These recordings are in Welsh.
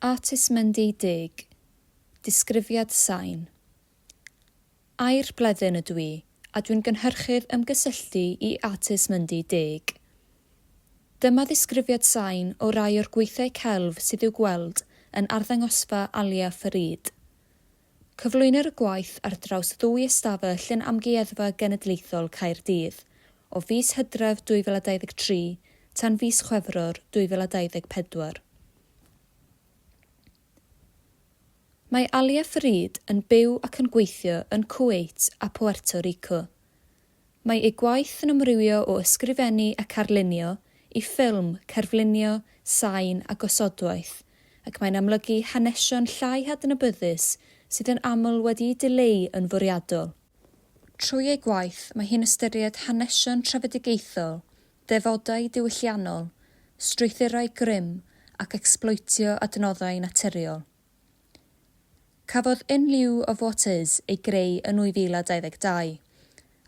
Artist Mendy Dug, Disgrifiad Sain Air Bleddyn ydw i a dwi'n gynhyrchydd ymgysylltu i Artist Mendy Dug. Dyma ddisgrifiad sain o rai o'r gweithiau celf sydd i'w gweld yn arddangosfa Alia Farid. Cyflwynir y gwaith ar draws ddwy ystafell yn Amgueddfa Genedlaethol Caerdydd, o fis Hydref 2023 tan fis Chwefror 2024. Mae Alia Farid yn byw ac yn gweithio yn Cweit a Puerto Rico. Mae ei gwaith yn amrywio o ysgrifennu ac arlunio i ffilm, cerflunio, sain a gosodwaith, ac mae'n amlygu hanesion llai hadnabyddus sydd yn aml wedi'u dileu yn fwriadol. Trwy ei gwaith, mae hi'n ystyried hanesion trefedigaethol, defodau diwylliannol, strwythurau grym ac ecsbloetio adnoddau naturiol. Cafodd In Lieu of What Is ei greu yn 2022,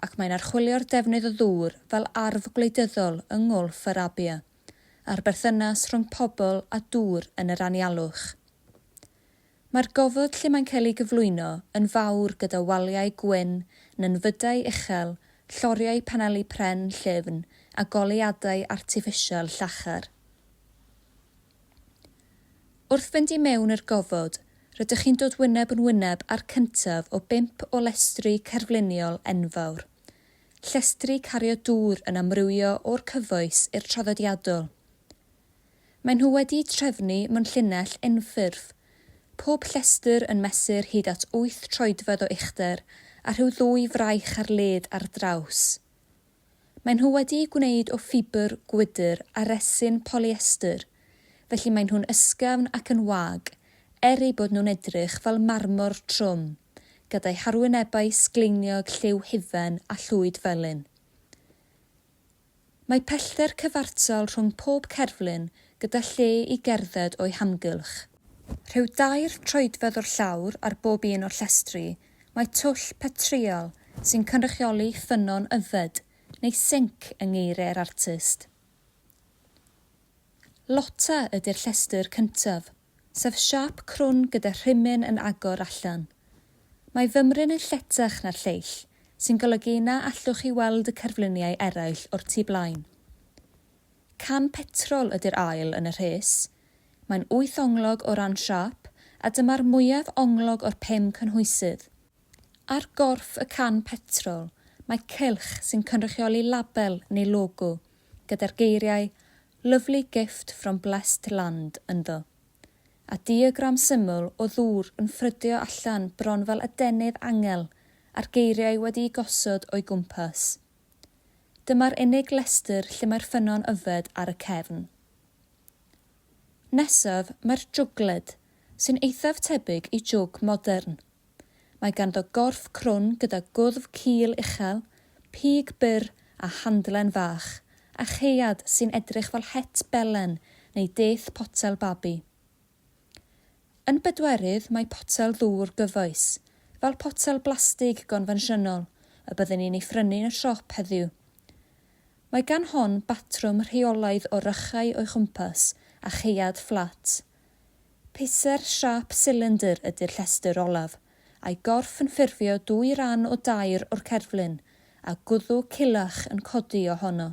ac mae'n archwilio'r defnydd o ddŵr fel arf gwleidyddol yng Nghwlff Arabia, a'r berthynas rhwng pobl a dŵr yn yr anialwch. Mae'r gofod lle mae'n cael ei gyflwyno yn fawr gyda waliau gwyn, nenfydau uchel, lloriau paneli pren llyfn a goleuadau artiffisial llachar. Wrth fynd i mewn i'r gofod, rydych chi'n dod wyneb yn wyneb â'r cyntaf o bump o lestri cerfluniol enfawr. Llestri cario dŵr yn amrywio o'r cyfoes i'r traddodiadol. Maen nhw wedi'u trefnu mewn llinell unffurf, pob llestr yn mesur hyd at wyth troedfedd o uchder a rhyw ddwy fraich ar led ar draws. Maen nhw wedi'u gwneud o ffibr gwydr a resin polyester, felly maen nhw'n ysgafn ac yn wag, er eu bod nhw'n edrych fel marmor trwm, gyda'u harwynebau sgleiniog lliw hufen a llwyd felyn. Mae pellter cyfartal rhwng pob cerflun gyda lle i gerdded o'u hamgylch. Rhyw dair troedfedd o'r llawr ar bob un o'r llestri Mae twll petrïol sy'n cynrychioli ffynnon yfed neu sinc yng ngeiriau'r artist. Lotta ydy'r llestr cyntaf, sef siâp crwn gyda rhimyn yn agor allan. Mae fymryn yn lletach na'r lleill, sy'n golygu na allwch chi weld y cerfluniau eraill o'r tu blaen. Can petrol ydy'r ail yn y rhes, Mae'n wyth onglog o ran siâp a dyma'r mwyaf onglog o'r pum cynhwysydd. Ar gorff y can petrol mae cylch sy'n cynrychioli label neu logo gyda'r geiriau 'Lovely gift from blessed land' ynddo, a diagram syml o ddŵr yn ffrydio allan bron fel adenydd angel a'r geiriau wedi'u gosod o'i gwmpas. Dyma'r unig lestr lle mae'r ffynnon yfed ar y cefn. Nesaf mae'r jwgled, sy'n eithaf tebyg i jwg modern. Mae ganddo gorff crwn gyda gwddf cul uchel, pig byr a handlen fach, a chaead sy'n edrych fel het belen neu deth potel babi. Yn bedwerydd mae potel ddŵr gyfoes, fel potel blastig gonfensiynol y byddwn ni'n ei phrynu yn y siop heddiw, Mae gan hon batrwm rheolaidd o rychau o'i chwmpas a chaead fflat. Pisser siâp silindr ydy'r llestr olaf, a'i gorff yn ffurfio dwy ran o dair o'r cerflun, a gwddw culach yn codi ohono.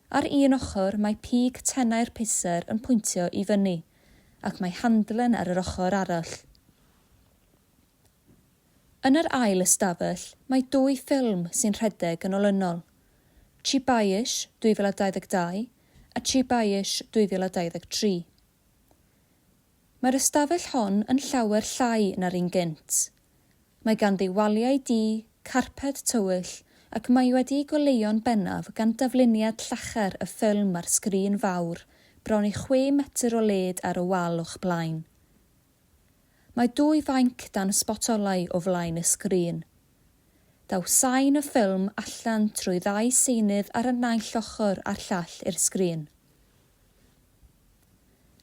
Ar un ochr mae pig tenau'r pisser yn pwyntio i fyny, ac mae handlen ar yr ochr arall. Yn yr ail ystafell mae dwy ffilm sy'n rhedeg yn olynol, Cheapayish 2022 a Cheapayish 2023. Mae'r ystafell hon yn llawer llai na'r un gynt. Mae ganddi waliau du, carped tywyll ac mae wedi'i goleuo'n bennaf gan dafluniad llachar y ffilm ar sgrin fawr bron i chwe metr o led ar y wal o'ch blaen. Mae dwy fainc dan sbotolau o flaen y sgrin. Daw sain y ffilm allan trwy ddau seinydd ar y naill ochr a'r llall i'r sgrin.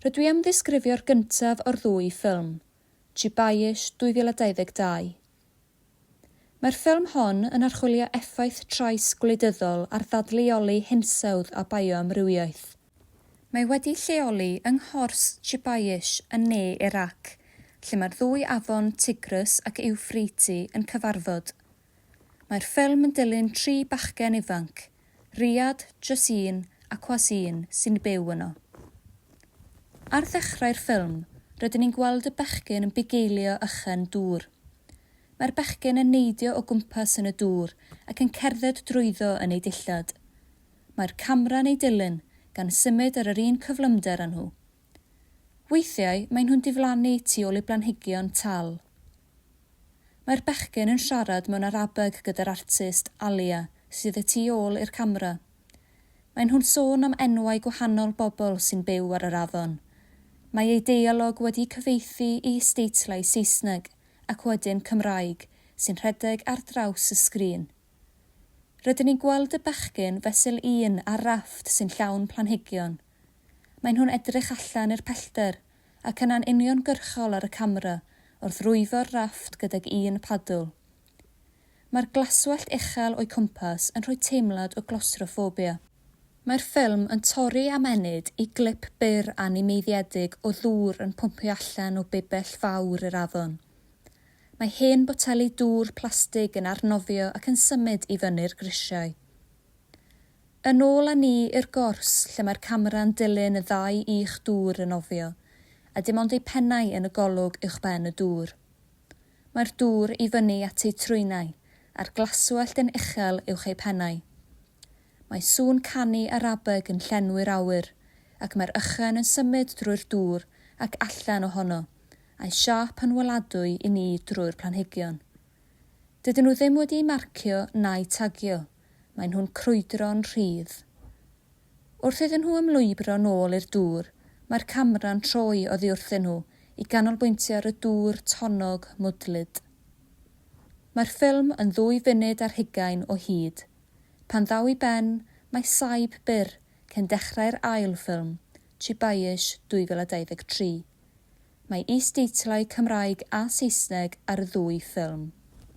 Rydw i am ddisgrifio'r gyntaf o'r ddwy ffilm, Chibaish 2022. Mae'r ffilm hon yn archwilio effaith trais gwleidyddol ar ddadleoli hinsawdd a bioamrywiaeth. Mae wedi'i lleoli yng nghors Chebayish yn ne Irac, lle mae'r ddwy afon Tigris ac Iwffreiti yn cyfarfod. Mae'r ffilm yn dilyn tri bachgen ifanc, Riyad, jys un, Aquas un, sy'n byw yno. Ar ddechrau'r ffilm, rydyn ni'n gweld y bechgyn yn bugeilio ychen dŵr. Mae'r bechgyn yn neidio o gwmpas yn y dŵr ac yn cerdded drwyddo yn eu dillad. Mae'r camera'n eu dilyn, gan symud ar yr un cyflymder â nhw. Weithiau, maen nhw'n diflannu tu ôl i blanhigion tal. Mae'r bechgyn yn siarad mewn Arabeg gyda'r artist Alia, sydd y tu ôl i'r camera. Maen nhw'n sôn am enwau gwahanol bobl sy'n byw ar yr afon. Mae eu deialog wedi cyfieithu i isdeitlau Saesneg ac wedyn Cymraeg sy'n rhedeg ar draws y sgrin. Rydyn ni'n gweld y bechgyn fesul un ar rafft sy'n llawn planhigion. Maen nhw'n edrych allan i'r pellter ac yna'n uniongyrchol ar y camera wrth rwyfo'r rafft gydag un padl. Mae'r glaswellt uchel o'i cwmpas yn rhoi teimlad o glawstroffobia. Mae'r ffilm yn torri am ennyd i glip byr animeiddiedig o ddŵr yn pwmpio allan o bibell fawr i'r afon. Mae hen boteli dŵr plastig yn arnofio ac yn symud i fyny'r grisiau. Yn ôl â ni i'r gors lle mae'r camera'n dilyn y ddau i'ch dŵr yn nofio, a dim ond eu pennau yn y golwg uwchben y dŵr. Mae'r dŵr i fyny at eu trwynau, a'r glaswellt yn uchel uwch eu pennau. Mae sŵn canu Arabeg yn llenwi'r awyr, ac mae'r ychen yn symud drwy'r dŵr ac allan ohono, a'u siâp yn weladwy i ni drwy'r planhigion. Dydyn nhw ddim wedi'u marcio na'u tagio. maen nhw'n crwydro'n rhydd. Wrth iddyn nhw ymlwybro nôl i'r dŵr, mae'r camera'n troi oddi wrthyn nhw i ganolbwyntio ar y dŵr tonnog mwdlyd. Mae'r ffilm yn ddwy funud ar hugain o hyd. Pan ddaw i ben, mae saib byr cyn dechrau'r ail ffilm, Chibayish 2023. Mae is-deitlau Cymraeg a Saesneg ar y ddwy ffilm.